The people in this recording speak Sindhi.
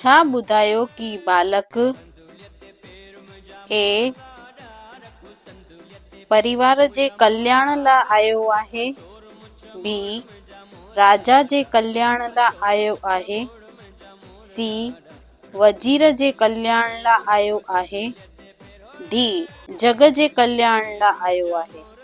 ڇا ٻڌايو ڪي ٻالڪ اي پريوار جي ڪلياڻ لا آيو آهي بي راجا جي ڪلياڻ لا آيو آهي سي وزير جي ڪلياڻ لا آيو آهي ڊي جڳ جي ڪلياڻ لا آيو آهي.